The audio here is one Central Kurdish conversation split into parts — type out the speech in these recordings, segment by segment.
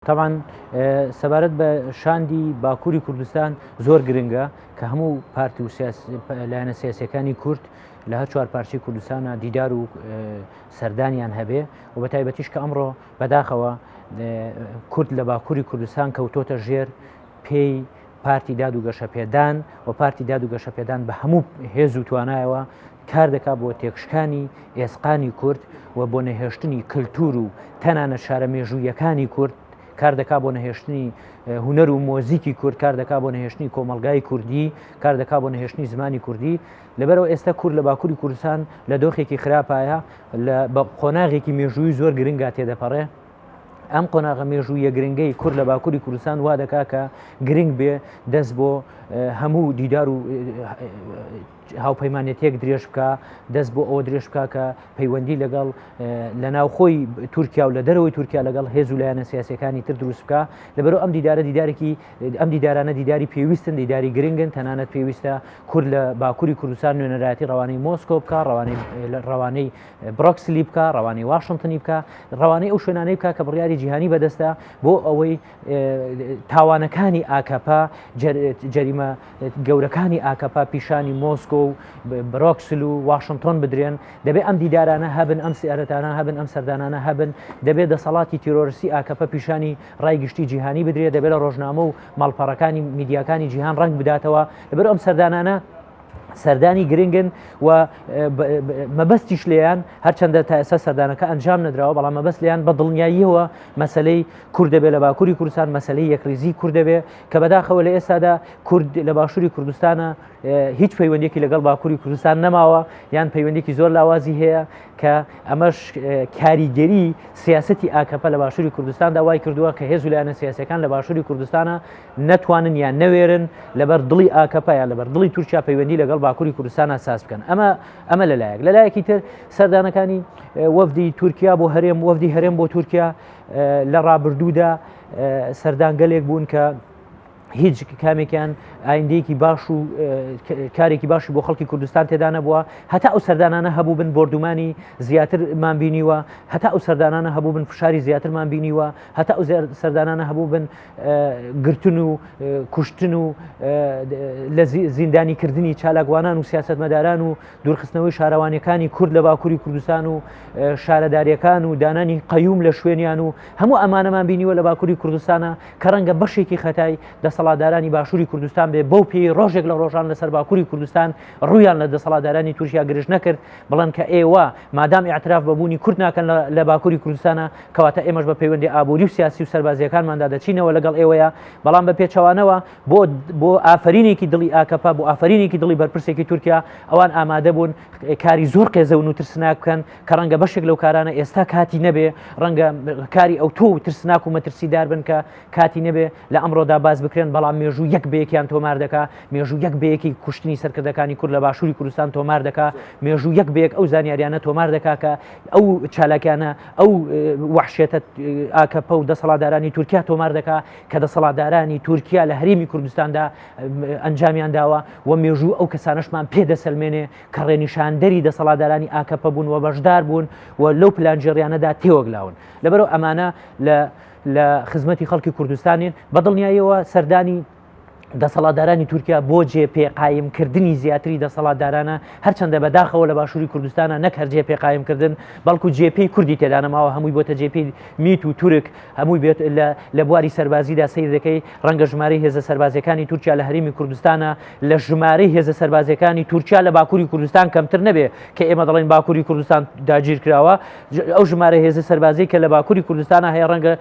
تەبعەن سەبارەت بە شاندی باکووری کوردستان زۆر گرنگە کە هەموو پارتی و لایەنە سیاسەکانی کورد لە هەر چوار پارچی کوردستانە دیدار و سەردانیان هەبێ و بە تایبەتیش کە ئەمڕۆ بەداخەوە کورد لە باکووری کوردستان کەوتۆتە ژێر پێی پارتی داد و گەشەپێدان و پارتی داد و گەشەپێدان بە هەموو هێز و توانایەوە کار دەکات بۆ تێکشکانی ئێسقانی کورد و بۆ نەهێشتنی کللتور و تەنانە شارە مێژوویەکانی کورد کار دەکا بۆ نەهێشتنی هوەر و مۆزیکی کورد کار دەکا بۆ نەهێشتنی کۆمەلگای کوردی کار دەکا بۆ نەهێشتنی زمانی کوردی لەبەرەوە ئێستا کورد لە باکووری کوردستان لە دۆخێکی خراپایە لە بە قۆناغێکی مێژووی زۆر گرنگا تێدەپەڕێ ئەم قۆناغە مێژوویە گرنگەی کورد لە باکووری کوردستان وا دەکا کە گرنگ بێ دەست بۆ هەموو دیدار و هاوپەیمانێتیەک درێژ بکە دەست بۆ ئەوە درێژ بکە کە پەیوەندی لەگەڵ لە ناوخۆی تورکیا و لە دەرەوەی تورکیا لەگەڵ هێز و لایەنە سیاسەکانی تر دروست بکە لەبەرو ئەم دیدارە دیدارێکی ئەم دیدارانە دیداری پێویستن دیداری گرنگن تەنانەت پێویستە کور لە باکووری کوردستان نوێنەرایەتی ڕوانەی مۆسکۆ بکە ڕوانەی ڕوانەی برۆکسلی بکە ڕوانەی واشنگتنی بکە ڕوانەی ئەو شوێنانەی بکە کە بڕیاری جیهانی بەدەستە بۆ ئەوەی تاوانەکانی ئاکەپە جەریمە گەورەکانی ئاکەپە پیشانی مۆسکۆ و برۆکسل و واشنگتۆن بدرێن دەبێت ئەم دیدارانە هەبن ئەم سیارەتانە هەبن ئەم سەردانانە هەبن دەبێت دەسەڵاتی تیرۆرسی ئاکەپە پیشانی ڕای گشتی جیهانی بدرێت دەبێت لە ڕۆژنامە و ماڵپەڕەکانی میدیاکانی جیهان ڕنگ بداتەوە لەبەر ئەم سەردانانە سەردانی گرنگن و مەبەستیش لێیان هەرچەندە تا ئێستا سەردانەکە ئەنجام نەدراوە بەڵام مەبەست لیان بە دڵنیاییەوە مەسلەی کوردەبێ لە باکووری کوردستان مەسلەی یەکریزی کوردەبێ کە بەداخەوە لە ئێستادا کورد لە باشووری کوردستانە هیچ پەیوەندێکی لەگەڵ باکووری کوردستان نەماوە یان پەیوەندێکی زۆر لاوازی هەیە کە ئەمەش کاریگەری سیاستی ئاکەپە لە باشووری کوردستاندا وای کردووە کە هێز لایەنە سیاسەکان لە باشووری کوردستانە نەتوانن یان نەوێرن لەبەر دڵی ئاکەپە یا لەبەر دڵی تورکیا پەیوەندی لەگەڵ باکووری کوردستانە ساز بکەن ئەمە ئەمە لەلایەک لەلایەکی تر سەردانەکانی وەفدی تورکیا بۆ هەرێم وەفدی هەرێم بۆ تورکیا لە ڕابردوودا سەردانگەلێک بوون کە هیچ کامێکیان ئایندەیەکی باش و کارێکی باشی بۆ خەڵکی کوردستان تێدا نەبووە هەتا ئەو سەردانانە هەبوو بن بردومانی زیاترمان بینیوە هەتا ئەو سەردانانە هەبوو بن فشاری زیاترمان بینیوە هەتا ئەو سەردانانە هەبوو بن گرتن و کوشتن و لە زیندانی کردنی چالاکوانان و سیاستمەداران و دوورخستنەوەی شارەوانەکانی کورد لە باکووری کوردستان و شارەدارەکان و دانانی قەیوم لە شوێنیان و هەموو ئەمانەمان بینیوە لە باکووری کوردستانە کە ڕەنگە بەشێکی خەتای دەسەڵاتدارانی باشووری کوردستان بێ بەو پێی ڕۆژێک لە ڕۆژان لەسەر باکووری کوردستان ڕویان لە دەسەڵاتدارانی تورکیا گرژ نەکرد بڵند کە ئێوە مادام اعتراف بەبوونی کورد ناکەن لە باکووری کوردستانە کەواتە ئێمەش بە پەیوەندی ئابووری و سیاسی و سەربازیەکانماندا دەچینەوە لەگەڵ ئێوەیە بەڵام بە پێچەوانەوە بۆ بۆ ئافرینێکی دڵی ئاکەپە بۆ ئافرینێکی دڵی بەرپرسێکی تورکیا ئەوان ئامادە بوون کاری زۆر قێزەون و ترسناک بکەن کە ڕەنگە بەشێک لەو کارانە ئێستا کاتی نەبێ ڕەنگە کاری ئەو تۆ و ترسناک و مەترسیدار بن کە کاتی نەبێ لە ئەمڕۆدا باز بکرێن بەڵام مێژوو یەک بەیەکیان تۆمار دەکا مێژوو یەک بەیەکی کوشتنی سەرکردەکانی کورد لە باشووری کوردستان تۆمار دەکا مێژوو یەک بەیەک ئەو زانیاریانە تۆمار دەکا کە ئەو چالاکیانە ئەو وەحشێتە ئاکەپە و دەسەڵاتدارانی تورکیا تۆمار دەکا کە دەسەڵاتدارانی تورکیا لە هەرێمی کوردستاندا ئەنجامیان داوە و مێژوو ئەو کەسانشمان پێدەسەلمێنێ کە ڕێنیشاندەری دەسەڵاتدارانی ئاکەپە بوون و بەشدار بوون و لەو پلانجێڕیانەدا تێوەگلاون لەبەرو ئەمانە لە لە خزمەتی خەڵکی کوردستانین بەدڵنیایەوە سەردانی دەسەڵاتدارانی تورکیا بۆ جێ پێ قایمکردنی زیاتری دەسەڵاتدارانە هەرچەندە بەداخەوە لە باشووری کوردستانە نەک هەر جێ پێ قایمکردن بەڵکو جێپی کوردی تێدانەماوە هەمووی بۆتە جێپی میت و تورک هەمووی بێت لە بواری سەربازیدا سیر دەکەی ڕەنگە ژمارەی هێزە سەربازەکانی تورکیا لە هەرمی کوردستانە لە ژمارەی هێزە سەربازەکانی تورکیا لە باکووری کوردستان کەمتر نەبێ کە ئێمە دەڵێن باکووری کوردستان داگیر کراوە ئەو ژمارە هێزە سەربازی کە لە باکووری کوردستانە هەیە ڕەنگە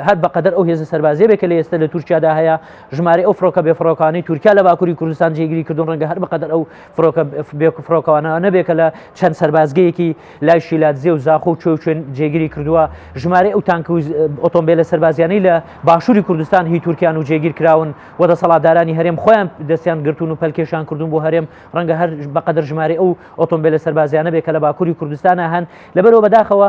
هەر بەقەدەر ئەو هێزە سەربازیە بێکە لە ئێستا لە تورکیادا هەیە ژمارە ئەو فڕۆکە بێ فڕۆکانی تورکیا لە باکووری کوردستان جێگیری کردن ڕەنگە هەر بەقەدەر ئەو فڕۆکە بێک و فڕۆکەوانە نەبێکە لە چەند سەربازگەیەکی لای شیلاتزیێ و زاخۆ و چۆچێن جێگیری کردووە ژمارە ئەو تانک و ئۆتۆمبیلە سەربازیانەی لە باشووری کوردستان هی تورکیان و جێگیر کراون و دەسەڵاتدارانی هەرێم خۆیان دەستیان گرتون و پەلکێشان کردون بۆ هەرێم ڕەنگە هەر بەقەدەر ژمارە ئەو ئۆتۆمبیلە سەربازیانە بێکە لە باکووری کوردستانە هەن لەبەرەوە بەداخەوە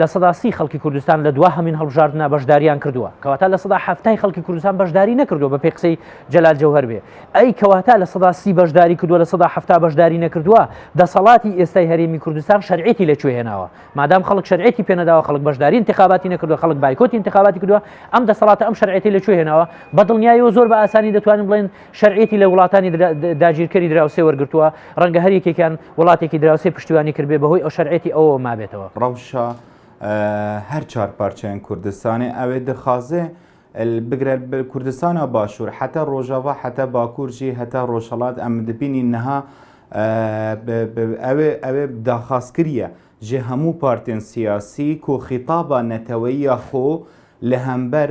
لە سەدا سی خەڵکی کوردستان لە دوا هەمین هەڵبژاردنە بەشداریان کردووە کەواتا لە سەدا هەفتای خەڵکی کوردستان بەشداری نەکردو بە پێی قسەی جەلال جەوهر بێ ئەی کەواتا لە سەدا سی بەشداری کردووە لە سەدا هەفتا بەشداری نەکردووە دەسەڵاتی ئێستای هەرێمی کوردستان شەرعێتی لەکوێ هێناوە مادام خەڵک شەرعێتی پێنەداوە خەڵک بەشداری انتخاباتی نەکردووە خەڵک بایکۆت انتخاباتی کردووە ئەم دەسەڵاتە ئەم شەرعێتی لەکوێ هێناوە بە دڵنیایەوە زۆر بە ئاسانی دەتوانین بڵێن شەرعێتی لە وڵاتانی داگیرکەری دراوسێ وەرگتووە ڕەنگە هەر یەکێکیان وڵاتێکی دراوسێ پشتیوانی کردبێ بەهۆی ئەو شەرعێتی ئەوەوە مابێتەوە. ڕەوشە هەر چوار پارچەیان کوردستانێ ئەوێ دخوازێ بگرە کوردستانە باشوور حتا ڕۆژاوا حتا باکوورژی هەتا ڕۆژهڵات ئەم دبینی نەها ئەوێ ئەوێ داخاز کریە ژێ هەموو پارتێن سیاسی کۆخیتابا نەتەوەیە خۆ لە هەمبەر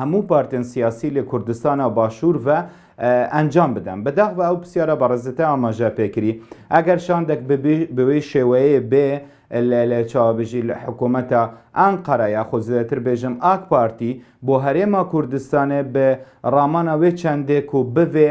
هەموو پارتێن سیاسی لە کوردستانا باشوور ڤە ئەنجام بدەن. بەداخ ڤە ئەو پسیارە بەڕێزتە ئاماژە پێ کری. ئەگەر شاندەک ببی بوی شێوەیێ بێ لە لە چاوەبژی لە حکوومەتا ئانقەرە یاخود زێدەتر بێژم ئاک پارتی بۆ هەرێما کوردستانێ بێ ڕامانا وێ چەندێک و بڤێ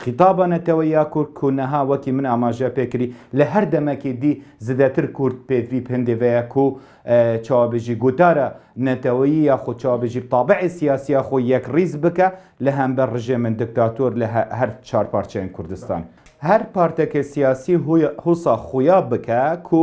خیتابە نەتەوەیە کورد کونەها وەکی من ئاماژە پێ کری لە هەر دەمەکی دی زدەتر کورد پێ ڤیپ هندێ ڤەیە کو چاوەبژی گوتارە نەتەوەیی یا خو چاوەبژی بتابعێ سیاسیە خو یەک ریز بکە لە هەمبەر رژێمن دکتاتۆر لە هەر چار پارچەێن کوردستان. هەر پارتەکێ سیاسی هوسا خویا بکە کو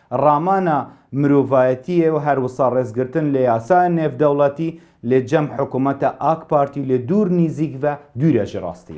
ڕامانە مرۆڤایەتیێ و هەر وسا ڕێز گرتن لە یاسا نێڤدەوڵەتی لێ جەم حکومەتە ئاک پارتی لێ دوور نیزیک ڤە دویرە ژ ڕاستی.